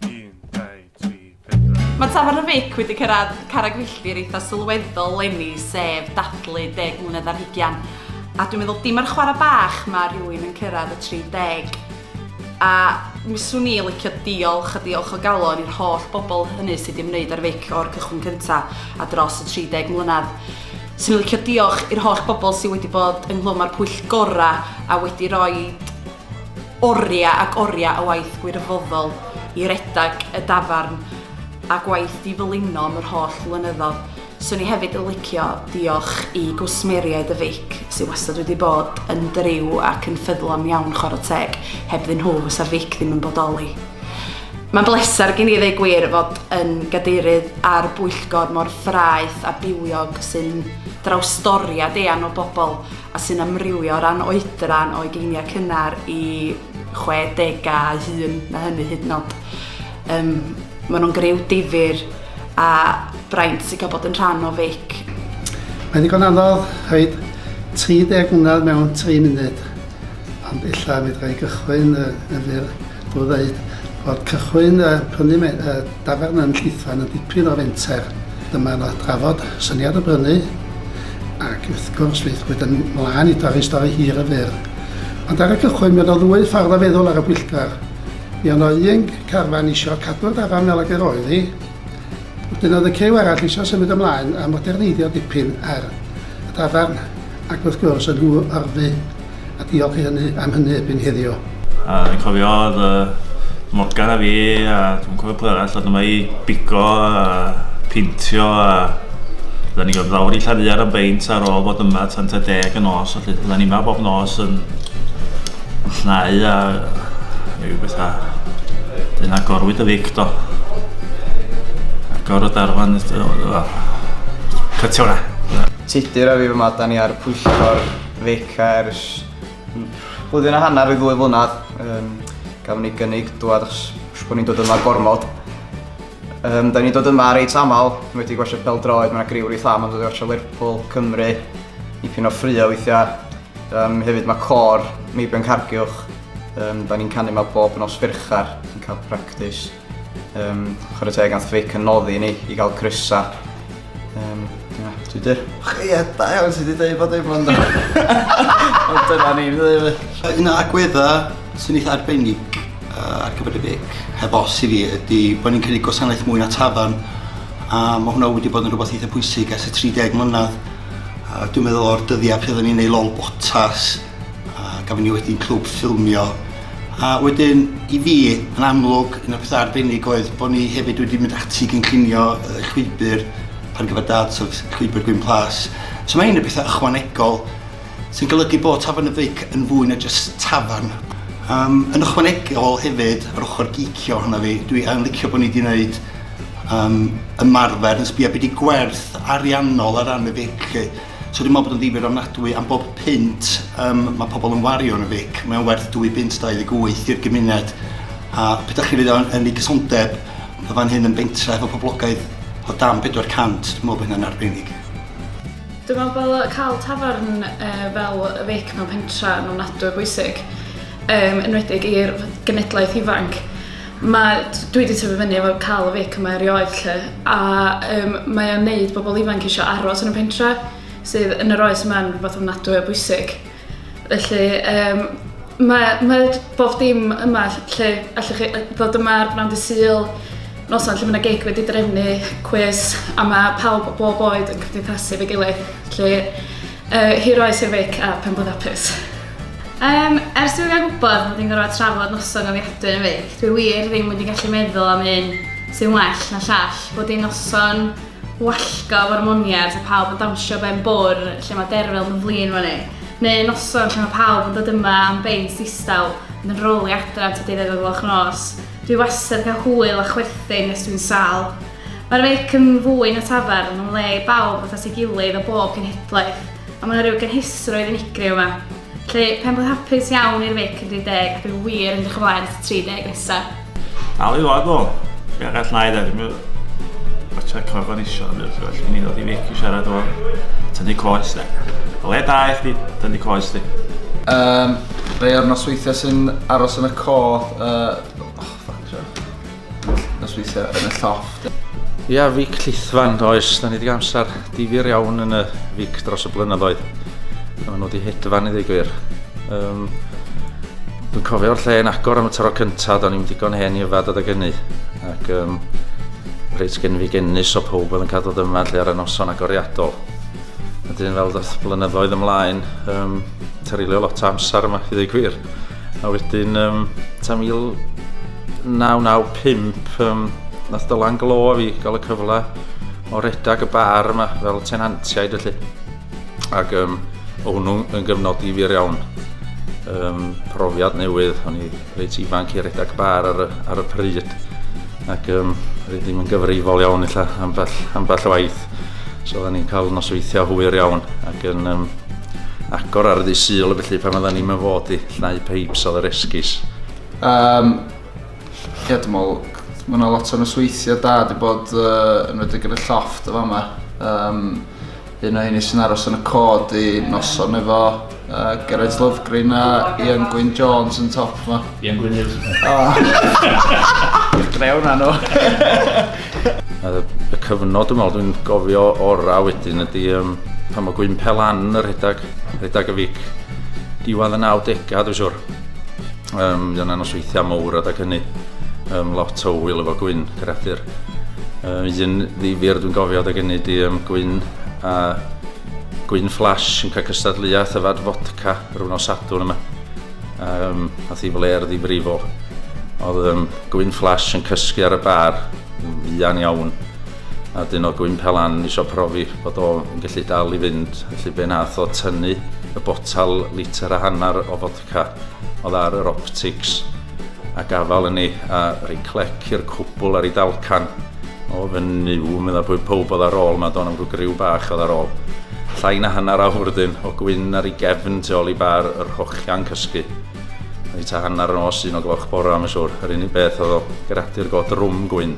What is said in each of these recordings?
1, 2, 3, 4. Mae Tafarn y Fic wedi cyrraedd carreg filltir eitha sylweddol lenni, sef dathlu deg mlynedd ar hugian. A dwi'n meddwl dim ar chwarae bach mae rhywun yn cyrraedd y 30. A mi swn i licio diolch a diolch o galon i'r holl bobl hynny sydd wedi ymwneud â'r fic o'r cychwyn cyntaf a dros y 30 mlynedd. Swn i'n licio diolch i'r holl bobl sydd wedi bod ynghlwm â'r pwyllgorau a wedi rhoi Oriau ac oriau o waith gwirfoddol i redeg y dafarn a gwaith di fylino am yr holl flynyddodd. Swn i hefyd yn licio diolch i gwsmeriaid y feic sy wastad wedi bod yn driw ac yn ffyddlon iawn chwarae teg, hebddyn nhw fysa'r feic ddim yn bodoli. Mae'n bleser gen i ddeu gwir fod yn gadeirydd ar bwyllgor mor fraeth a bywiog sy'n drawstoriad eang o bobl a sy'n amrywio o ran oedran o ugeiniau cynnar i 60au hŷn, mae hynny hyd yn oed. Um, maen nhw'n grew difyr a braint sy'n cael bod yn rhan o feic. Mae'n ddigon anodd rhaid 30 mlynedd mewn 3 munud, ond illa mi ddrai gychwyn yn fyr O ddeud fod cychwyn yy prynu me- yy dafarn yn Llithfaen yn dipyn o fenter, dyma yno drafod syniad y brynu ac wrth gwrs llaethwyd yn mlân i dorri stori hir y fyr. Ond ar y cychwyn mi oedd o ddwy ffordd o feddwl ar y pwyllgor. Mi oedd yno un carfan isio cadw'r dafarn fel ag yr oedd hi, Wedyn oedd y cyw arall eisiau symud ymlaen a moderneiddio dipyn ar y dafarn ac wrth gwrs yn nhw orfu a diolch i hynny am hynny erbyn heddiw. A dwi'n cofio oedd y Morgan a fi a dwi'n cofio pwy arall oedd yma i bigo a pintio a Oedden ni'n gorfod lawr i Llariar am beint ar ôl bod yma tan ta deg y nos, felly oedden ni yma bob nos yn Llnau a rhyw bethau. Dyn agorwyd y fic do. Agor y darfan, cytio hwnna. Tudur a fi fy madan ni ar pwyllgor fic ers blwyddyn a hanner i ddwy flynedd. Um, gafon ni gynnig dwad achos bod ni'n dod yma gormod. Um, da ni'n dod yma reit aml, ni wedi gwasio pel droed, mae'n griw reit am, ond wedi gwasio Lerpwl, Cymru, i pyn o ffrio weithiau. Um, hefyd mae cor Meibion Cargiwch, um, da ni'n canu yma bob nos fyrchar, yn cael practis. Um, chwarae teg ath Vic yn noddi ni i gael crysa. Um, yeah, dwi dir. Ie, da iawn, ti wedi dweud bod ei blond Ond dyna ni'n dweud fi. Un o agwedda sy'n eitha arbennig uh, ar gyfer y Vic, heb os i fi, ydy bod ni'n cynnig gwasanaeth mwy na tafarn. A mae hwnna wedi bod yn rhywbeth eitha pwysig ers y 30 mlynedd. A dwi'n meddwl o'r dyddiau pryd oedden ni'n ei lol botas a gafon ni wedyn clwb ffilmio a wedyn i fi yn amlwg un o'r pethau arbennig oedd bod ni hefyd wedi mynd ati i gynllunio y llwybr ar gyfer dad so llwybr Gwyn Plas so mae hyn yn pethau ychwanegol sy'n golygu bod tafarn y feic yn fwy na jyst tafarn yym yn ychwanegol hefyd yr ochr gîcio ohono fi dwi yn licio bod ni 'di neud um, ymarfer yn sbio beth i gwerth ariannol ar ran y fic. So dwi'n meddwl bod yn ddifur ofnadwy am bob pint um, mae pobl yn wario yn y fic. Mae'n werth 2 bint 28 i'r gymuned. A beth ydych chi fydd yn, yn ei gysondeb, mae fan hyn yn bentra efo poblogaeth o dan 400, dwi'n meddwl bod hynny'n arbennig. Dwi'n meddwl bod cael tafarn uh, fel y fic mewn pentra yn ofnadwy o bwysig, um, enwedig i'r genedlaeth ifanc. Ma'... Dwi 'di tyfu fyny efo ca'l y fic yma erioed 'lly a yym mae o'n neud bobol ifanc isio aros yn y pentre sydd yn yr oes yma'n rwbath ofnadwy o bwysig felly yym mae o mae o j- bob dim yma ll- lle allwch chi yy ddod yma ar bnawn dy Sul, noson lle ma' 'na gig wedi drefnu, cwis a ma' pawb o bob oed yn cymdeithasu efo'i gilydd 'lly yy hir oes i'r feic a phenblwydd hapus. Yym, ers i fi gael gwybod bod ni'n gorfod trafod noson gofiadwy yn feic, dwi wir ddim wedi gallu meddwl am un sy'n well na llall, bod hi'n noson wallgo o'r moniad a pawb yn dawnsio ben bwr lle mae derfel yn flin fyny, neu noson lle mae pawb yn dod yma am beint distaw ond yn rowlio adra tua deuddeg o gloch nos. Dwi wastad yn cael hwyl a chwerthin nes dwi'n sâl. Mae'r feic yn fwy na tafarn, mae'n le i bawb ddod at ei gilydd o bob cenhedlaeth, A mae 'na rhyw gynhwysrwydd unigryw yma. Felly, pen bod hapus iawn i'r feic yn 30 ac yn wir yn edrych ymlaen at y 30 nesaf. Dal i ddod o! Be arall na i ddweud, mi fatha corfan isio yn ymwneud, felly mi ddod i feic i siarad o tynnu coes de. O le da i chdi tynnu coes di? Um, rei o'r nosweithiau sy'n aros yn y cof, uh, Nosweithio yn y llofft. Ia, fic llithfan, oes. Da ni wedi amser difyr iawn yn y fic dros y blynyddoedd. A maen nhw wedi hedfan i ddigwyr. Um, Dwi'n cofio'r lle yn agor am y tro cyntaf, do'n i'n digon hen i yfad adeg hynny. Ac um, reit gen fi genus o pob oedd yn cadw dyma lle ar y noson agoriadol. A dyn fel ddoth blynyddoedd ymlaen, um, terilio lot o amser yma i ddweud gwir. A wedyn, um, tan 1995, um, nath dylan glo fi gael y cyfle o redag y bar yma fel tenantiaid felly. Ac um, o hwnnw yn gyfnod i fur iawn. Um, profiad newydd, o'n i reit ifanc i redag bar ar y, ar y pryd. Ac um, rydym yn gyfrifol iawn illa ambell, ambell waith. So oedden ni'n cael nosweithiau hwyr iawn ac yn um, agor ar y ddisyl felly pan oedden ni'n fod i llnau peips oedd yr esgus. Um, ie, dwi'n meddwl, mae yna lot o nosweithiau da wedi bod uh, yn wedi gyda llofft o fama. Um, un o hynny sy'n aros yn y cod i noson efo Yy Geraint Lofgren a Ian Gwyn Jones yn top 'ma. Ian Gwyn Jones. O. Drew na nhw. A y cyfnod dwi'n meddwl dwi'n gofio ora wedyn ydy um, pan mae Gwyn Pelan yn rhedeg, rhedeg y fic. Diwedd y 90au dwi'n siwr. Um, Dyna nos weithiau mawr adag hynny. Um, lot o wyl efo Gwyn, creadur. Um, un ddifir dwi'n gofio adag hynny di um, Gwyn a Gwyn Flash yn cael cystadleuaeth yfad fodca rhywun o Sadwrn yma. Um, a thi fler ddifrifo. Oedd um, Gwyn Flash yn cysgu ar y bar, fuan iawn. A dyn o Gwyn Pelan eisiau profi bod o'n gallu dal i fynd. Felly be nath o tynnu y botal litr a hanner o fodca Ca, oedd ar yr optics a gafal yn ei a rhoi clec i'r cwbl ar ei dalcan. O fy nyw, medda pwy pob oedd ar ôl, mae do'n am rhyw griw bach oedd ar ôl. Llai na hanner awr dyn, o gwyn ar ei gefn tu ôl i bar yr hochian cysgu. Mae ta hanner yn os un o gloch bora, mae'n siwr, yr unig beth oedd o gradu'r god rwm gwyn.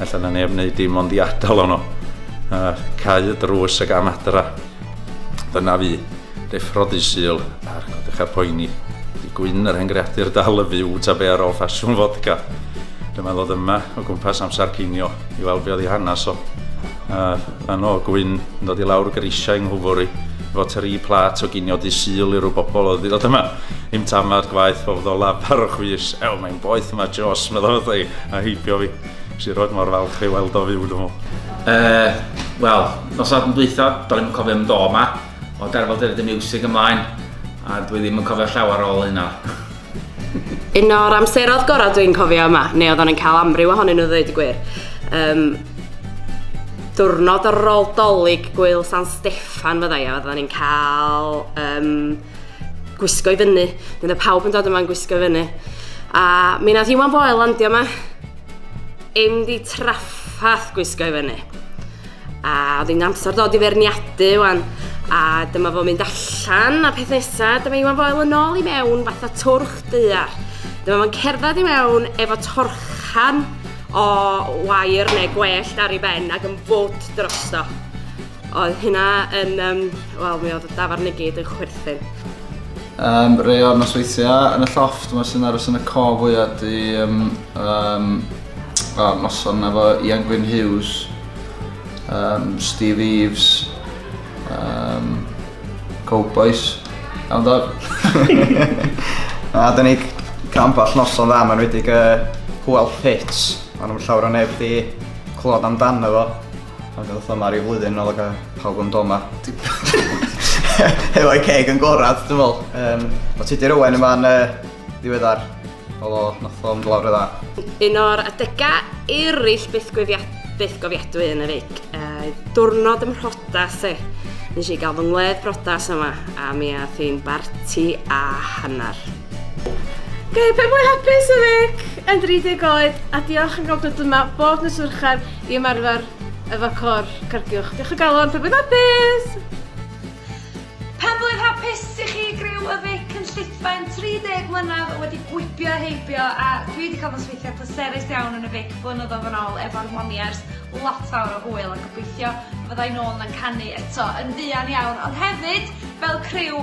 Ella na neb wneud dim ond i adal ono. A cau y drws ag am adra. Dyna fi, deffrodi sul ar godechau poeni. Di gwyn yr hen greadur dal y fyw ta be ar ôl ffasiwn fodca. Dyma ddod yma o gwmpas amser cinio i weld be oedd ei hanes o. A fan o gwyn yn dod i lawr grisiau yng Nghwfwri efo tri plat o ginio di sul i rhyw bobl oedd wedi dod yma. Im tamad gwaith o fyddo lafar o chwys. Ew, mae'n boeth yma Jos, meddwl wrtha i, a heibio fi. Sir Roed mor falch ei weld o fyw dwi'n meddwl. Uh, Wel, nos adn dwytho, do'n i'n cofio am do yma, o darfod dyryd y music ymlaen, a dwi ddim yn cofio llawer ôl hynna. Un o'r amserodd gorau dwi'n cofio yma, neu oedd o'n cael amryw ohonyn nhw ddweud y gwir. Um, diwrnod ar ôl dolyg gwyl San Steffan fyddai, a oedden ni'n cael um, gwisgo i fyny. Dyna pawb yn dod yma'n gwisgo i fyny. A mi nath Iwan Boel landio yma. Im di traffath gwisgo i fyny. A oedd hi'n amser dod i ferniadu wan. A dyma fo'n mynd allan a peth nesaf, dyma Iwan Boel yn ôl i mewn fatha twrch dear. Dyma fo'n cerdded i mewn efo torchan o wair neu gwellt ar ei ben ac yn fod drosto. Oedd hynna yn, um, wel, mi oedd y dafarn i gyd yn chwerthin. Um, rei o'r nosweithiau yn y llofft, mae sy'n aros yn y co fwyaf di um, um, o, noson efo Ian Gwyn Hughes, um, Steve Eves, um, Cowboys, iawn do? A dyn ni camp all noson dda, mae'n wedi uh, hwyl pits, ond nhw'n llawer o neb di clod amdano fo. Ond gael fatha ma ryw flwyddyn yn ôl ac a pawb yn do ma. Hefo'i ceg yn gorad, dwi'n meddwl. Um, o Tudur Owen yma'n uh, ddiweddar. Oedd o, nath o'n glawr y dda. Un o'r adegau eraill byth, byth gofiadwy yn y feic. Uh, diwrnod ym mhrodas e. Nes i gael fy ngwledd brodas yma a mi a thi'n barti a hanner. Gael pe mwy hapus y feic yn 30 oed a diolch yn gofnod yma bob nos Urchar i ymarfer efo Côr Cardiwch. Diolch o galon, pawb yn hapus! Penblwydd hapus i chi griw y Vic yn Llithfaen, 30 mlynedd wedi gwibio a heibio a dwi wedi cael fy nosweithiau pleserus iawn yn y Vic blynyddoedd yn ôl efo'r Moniers, lot fawr o hwyl a gobeithio fydda i nôl yna'n canu eto yn fuan iawn ond hefyd fel criw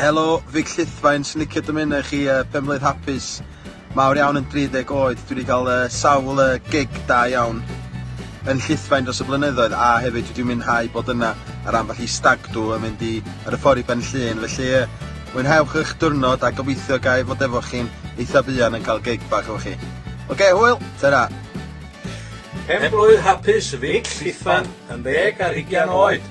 Helo, Vic Llithfaen, sy'n licio dymuno i chi uh, penblwydd hapus. Mawr iawn yn 30 oed, dwi wedi cael uh, sawl uh, gig da iawn yn llithfaen dros y blynyddoedd a hefyd wedi mwynhau bod yna ar ambell i stagdw yn mynd i ar y ffordd i Ben Llŷn felly yy mwynhewch eich diwrnod a gobeithio ga i fod efo chi'n eitha buan yn cael gig bach efo chi. Oce okay, hwyl, ta-ra! Pen blwydd hapus Vic Llithfan yn ddeg ar hugian oed.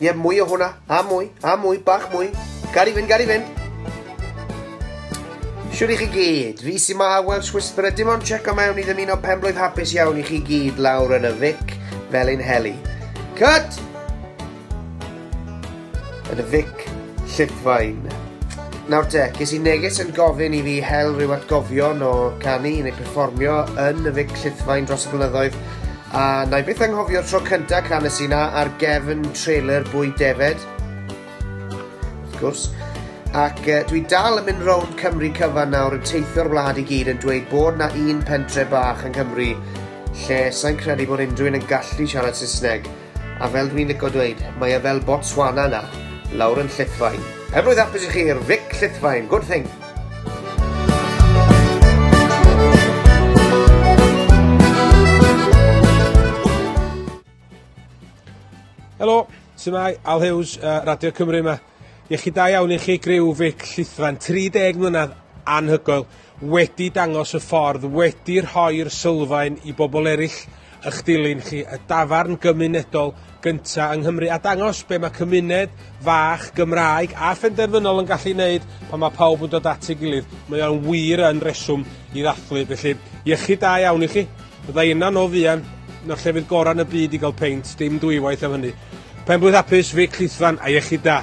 Ie, mwy o hwnna. A mwy, a mwy, bach mwy. Gael i fynd, gael i fynd. Siwr i chi gyd, fi sy'n ma a Welsh Whisperer, dim ond check o mewn i ddymuno penblwydd hapus iawn i chi gyd lawr yn y fic fel un heli. Cut! Yn y fic llithfain. Nawr te, ges i neges yn gofyn i fi hel rhyw atgofion o canu neu perfformio yn y fic llithfain dros y blynyddoedd A na i byth anghofio'r tro cyntaf canes i na ar gefn trailer bwy defed. Wrth gwrs. Ac uh, dwi dal yn mynd rownd Cymru cyfan nawr yn teithio'r wlad i gyd yn dweud bod na un pentre bach yng Nghymru lle sa'n credu bod unrhyw un yn gallu siarad Saesneg. A fel dwi'n licio dweud, mae e fel Botswana na, lawr yn Llithfaen. Pen blwydd apus i chi i'r Vic Llithfaen, good thing! Helo, sy'n mai, Al Hughes, uh, Radio Cymru yma. Iechyd da iawn i chi griw fic llithran, 30 mlynedd anhygoel, wedi dangos y ffordd, wedi rhoi'r sylfaen i bobl eraill ych dilyn chi y dafarn gymunedol gynta yng Nghymru a dangos be mae cymuned fach Gymraeg a phenderfynol yn gallu wneud pan mae pawb yn dod at ei gilydd. Mae o'n wir yn reswm i ddathlu, felly iechyd da iawn i chi. Fydda i yna nos fuan, na'r llefydd gorau yn y byd i gael peint, dim dwywaith am hynny. Penblwydd hapus, Vic Llithfan a iechyd da!